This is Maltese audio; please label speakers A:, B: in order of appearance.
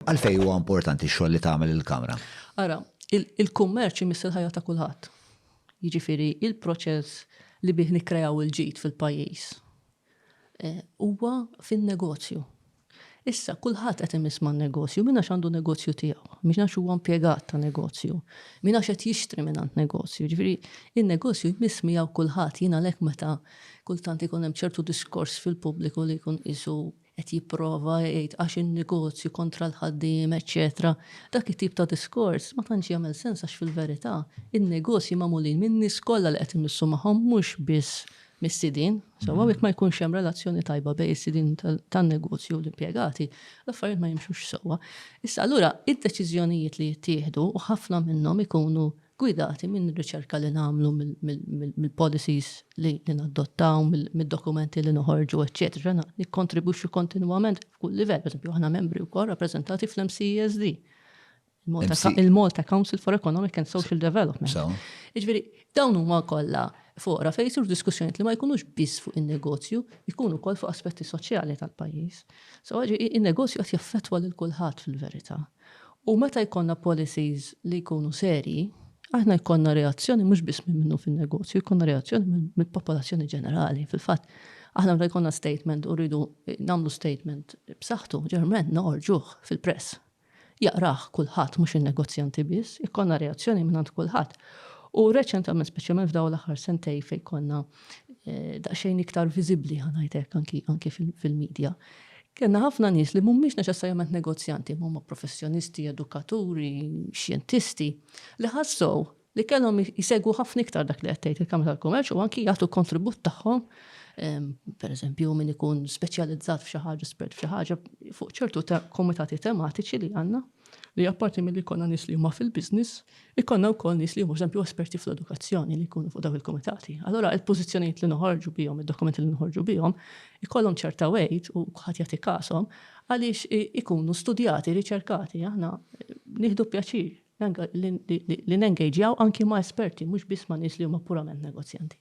A: Għalfejn huwa importanti x-xogħol li tagħmel il-Kamra? Ara,
B: il-kummerċ imiss il-ħajja ta' kulħadd. Jiġifieri il-proċess li bih nikkrejaw il-ġid fil-pajjiż eh, huwa fin-negozju. Issa, kulħadd qed imiss man negozju, minna għandu negozju tiegħu, minna għax huwa impjegat ta' negozju, minna qed jixtri minn għand negozju. Ġifieri, in-negozju jmiss miegħu kulħadd jien għalhekk meta kultant ikun hemm ċertu diskors fil-pubbliku li jkun isu qed jipprova jgħid għax in-negozju kontra l-ħaddiem eċċetera, dak it-tip ta' diskors ma tantx jagħmel sens għax fil-verità in-negozji magħmulin min-nies kollha li qed imissu magħhom mhux biss mis-sidien. Sewwa jekk ma jkunx hemm relazzjoni tajba bejn is-sidien tan-negozju u l-impjegati, l-affarijiet ma jimxux sewwa. Issa allura id-deċiżjonijiet li jittieħdu u ħafna minnhom ikunu gwidati minn riċerka li nagħmlu mill-policies li nadottaw, mid-dokumenti li noħorġu, eċċetera. Aħna nikkontribwixxu kontinwament f'kull livell. Pereżempju, aħna membri wkoll rappreżentati fl-MCESD, il-Malta Council for Economic and Social Development. Jiġifieri, dawn huma kollha foqra fejn isiru diskussjonijiet li ma jkunux biss fuq in-negozju, jkunu wkoll fuq aspetti soċjali tal-pajjiż. So, in-negozju qed jaffettwa lil kulħadd fil-verità. U meta jkollna policies li jkunu serji, aħna jkollna reazzjoni mhux biss minn minnu fin-negozju, jkollna reazzjoni mill-popolazzjoni ġenerali. Fil-fatt, aħna meta jkollna statement u rridu nagħmlu statement b'saħħtu, ġeneralment noħorġuh fil-press. Jaqrah kulħadd mhux in-negozjanti biss, ikollna reazzjoni mingħand kulħadd. U reċentament, speċjalment f'dawn l-aħħar sentejn fejn konna daqsxejn iktar viżibbli ħa ngħid hekk anki anki fil-media. Kellna ħafna nies li mhumiex neċessarjament negozjanti, imma huma professjonisti, edukaturi, xjentisti, li ħassew li kellhom jsegwu ħafna iktar dak li qed tgħid il-Kamra tal-Kummerċ u anki jagħtu kontribut tagħhom pereżempju min ikun speċjalizzat f'xi ħaġa, spert f'xi ħaġa, fuq ċertu komitati tematiċi li għandna. li apparti milli jkollna nies li huma fil-business, ikollna wkoll nies li huma pereżempju esperti fl-edukazzjoni li jkunu fuq dawk il-kumitati. Allura il-pożizzjonijiet li noħorġu bihom, id-dokumenti li noħorġu bihom, ikollhom ċerta weight u kulħadd jagħti kashom għaliex ikunu studjati, riċerkati. Aħna nieħdu pjaċir li nengejġjaw anki ma' esperti, mhux biss ma' nies li huma purament negozjanti.